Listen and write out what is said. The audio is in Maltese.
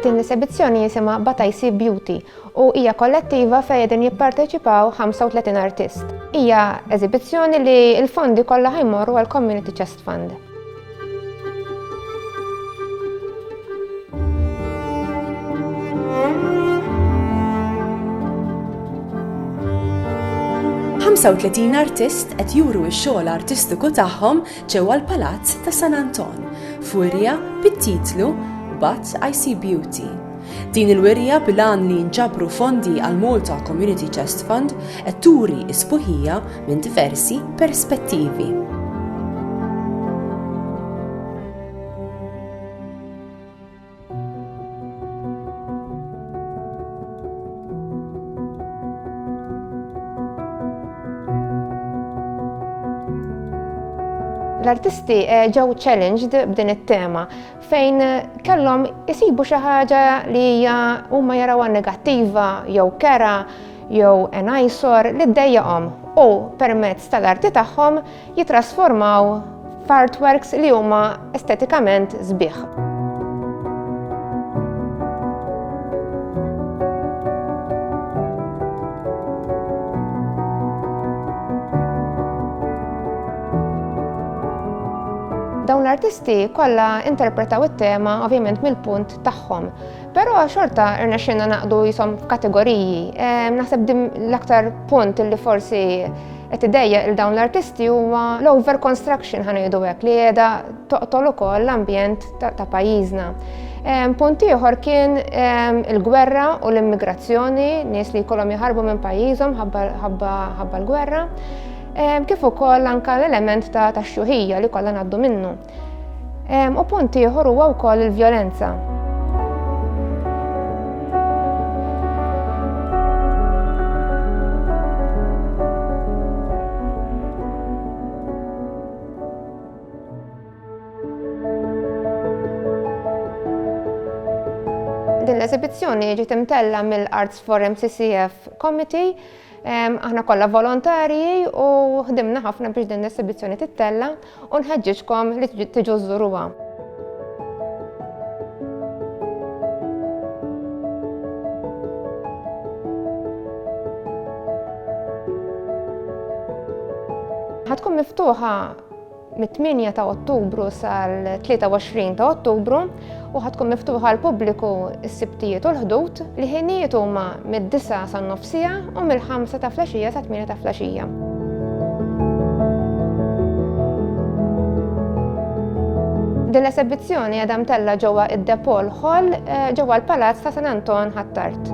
Din l-esebizzjoni jisimha Bataisi Beauty u hija kollettiva fejn qegħdin jipparteċipaw 35 artist. Hija eżibizzjoni li l-fondi kollha ħajmorru għall-Community Chest. Fund. Ħamsa u tletin artist qed juru x-xogħol artistiku tagħhom ġewwa l-Palazz ta' San Anton, f'wirja bit-titlu But I See Beauty. Din il-wirja bil-għan li jinġabru fondi għall-Malta Community Chest Fund qed turi s-sbuħija minn diversi perspettivi. L-artisti eh, ġew challenged b'din it-tema fejn kellhom isibu xi ħaġa li hija huma jarawha negattiva jew kera jew enajsor li ddejjaqhom u permezz tal-arti tagħhom jitrasformaw f'artworks li huma estetikament sbieħ. Dawn l-artisti kollha interpretaw it-tema ovvjament mill-punt tagħhom. Però xorta irnexxinna naqdu jisom f'kategoriji. Ehm, naħseb dim l-aktar punt li forsi qed idejja il dawn l-artisti huwa l-over construction ħanejdu hekk li qiegħda toqtol ukoll l-ambjent ta' pajjiżna. Ehm, punt ieħor kien ehm, il-gwerra u l-immigrazzjoni, nies li jkollhom jħarbu minn pajjiżhom ħabba l-gwerra. Kif ukoll anka l-element ta' tax-xuħija li kollha ngħaddu minnu. U punt ieħor huwa wkoll il-vjolenza. Din l-eżibizzjoni ġiet imtella mill-Arts for MCCF Committee Aħna kollha volontarji u ħdimna ħafna biex din l-esibizzjoni tittella u nħeġġiġkom li tiġu żuruha. ħatkun miftuħa Mit-8 ta' Ottubru sal-23 ta' Ottubru u ħatkun miftuħa l-pubbliku s-sibtijiet u l-ħdud li ħinijiet huma mid-9 sa' nofsija u mill-5 ta' flaxija sa' 8 ta' flaxija. Din l-esebizzjoni għadha mtella ġewwa id-Depol Hall eh, ġewwa l-Palazz ta' San Anton Ħattart.